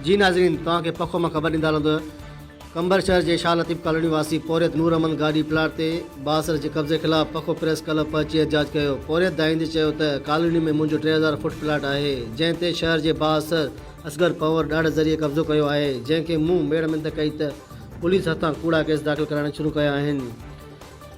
جي ناظرين توهان کي پکو مان خبر ڏيندا هلون ته قمبر شهر جي شاهه لطيف ڪالوني واسي پورهيت نور امن گاڏي پلاٽ تي بااثر جي قبضي خلاف پکو پريس ڪلب پهچي احتجاج ڪيو پورهيت ڌائيندي چيو ته ڪالوني ۾ منهنجو ٽي هزار فوٽ پلاٽ آهي جنهن تي شهر جي بااثر اصغر پنهور ڏاڙهه ذريعي قبضو ڪيو آهي جنهن کي مون ميڙ منت ڪئي ته پوليس هٿان ڪوڙا ڪيس داخل ڪرائڻ شروع ڪيا آهن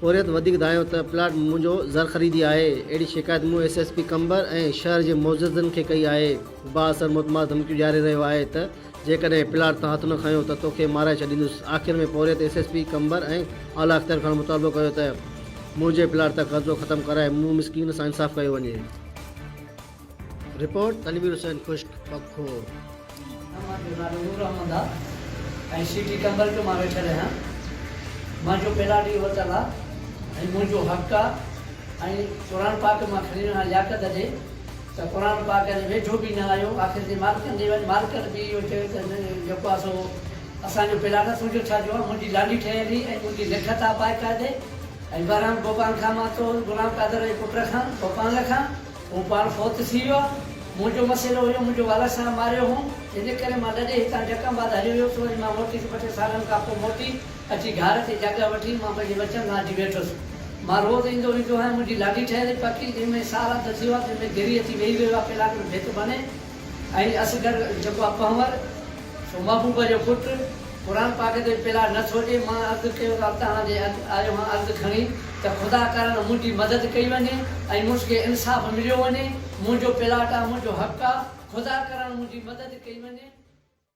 پورهيت وڌيڪ ڌايو ته پلاٽ منهنجو زرخريدي آهي، اهڙي شڪايت مون ايس ايس پي قمبر ۽ شهر جي معززن کي ڪئي آهي، بااثر متمادر ڌمڪيون ڏياري رهيو آهي ته جيڪڏهن پلاٽ تان هٿ نه کنيو ته توکي مارائي ڇڏيندس، آخر ۾ پورهيت ايس ايس پي قمبر ۽ اعليٰ اختيار کان مطالبو ڪيو ته منهنجي پلاٽ تان قبضو ختم ڪرائي مون مسڪين سان انصاف ڪيو وڃي. رپورٽ، تنوير حسين خشڪ پکو. مان جو نالو نور احمد آ ۽ سي ٽي ٽمبر جو مان ويٺل آهيان مان جو پيلا ڏينهن ورتل آ ۽ منهنجو حق آ ۽ قرآن پاڪ مان کڻي رهان لياقت ڏي ته قرآن پاڪ جي ويجهو به نه آيو آخر جي مالڪن ڏي وڃ مالڪن به اهو چيو ته نه جيڪو آ سو اسان جو پيلا نه تنهنجو ڇا جو آ منهنجي لانڍي ٺهيل هئي ۽ منهنجي لکت آ باقاعدي ۽ بهرحال ڀوپال کان مان تو غلام قادر جي پٽ کان ڀوپال کان هو پاڻ فوت ٿي ويو آهي. منهنجو مسئلو هيو، منهنجو والد صاحب ماريو هوم، جنهن جي ڪري مان لڏي هتان جڪم آباد هليو ويس، وري مان موٽيس ٻه ٽي سالن کان پوء موٽي اچي گهار تي جڳهه وٺي مان پنهنجي وچن سان اچي ويٺس. مان روز ايندو ويندو هئم، منهنجي لاڏي ٺهيل هئي پڪي، جنهن ۾ سال اڌ ٿي ويو آهي، جنهن ۾ گري اچي ويهي رهيو آهي، ڪلاڪ ۾ ڀت ڀني، ۽ اصغر جيڪو آ پنهور، سو محبوبه جو پٽ، قرآن پاڪ تي پلا نه ٿو ڏي، مان عرض ڪيو ته توهان جي اڄ آيو هان عرض کڻي ته خدا ڪارڻ منهنجي مدد ڪئي وڃي ۽ مونس کي انصاف مليو وڃي، منهنجو پلاٽ آ، منهنجو حق آ، خدا ڪرڻ منهنجي مدد ڪئي وڃي.